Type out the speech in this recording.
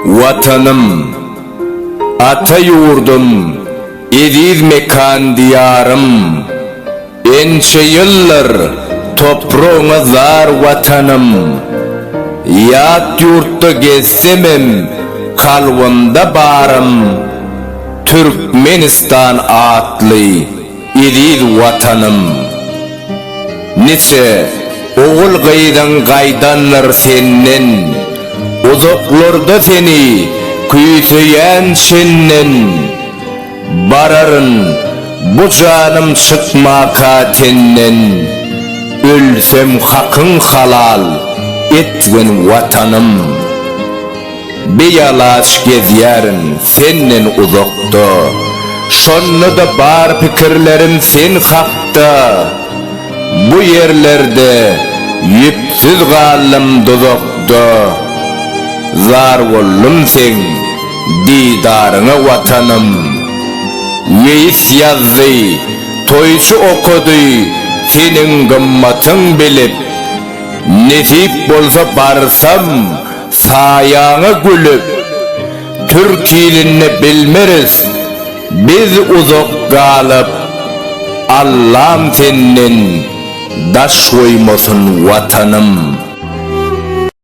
Watanym, ata ýurdum, eziz mekan Diýarym! Ençe ýyldyr topragyňa zar Watanym! Ýat ýurtda gezsemem kalbymda barym Türkmenistan atly Eziz Watanym! Niçe ogul-gyzyň gaýdandyr senden, Uzaklarda seni küýseýän çenden. Bararyn bu janym çykmaka tenden, Ölsem hakyň halal etgin Watanym! Bialaç gezýärin senden uzakda, Şonda-da bar pikirlerim sen hakda. Bu ýerlerde ýüpsüz galdym duzakda, Zar boldum seň didaryňa Watanym. Weýis ýazdy, toýçy okady, Seniň gymmatyň bilip, Nesip bolsa barsam, Saýaňa gülüp, türk ilinde bilmeris biz uzak galyp, Allam senden daş goýmasyn Watanym.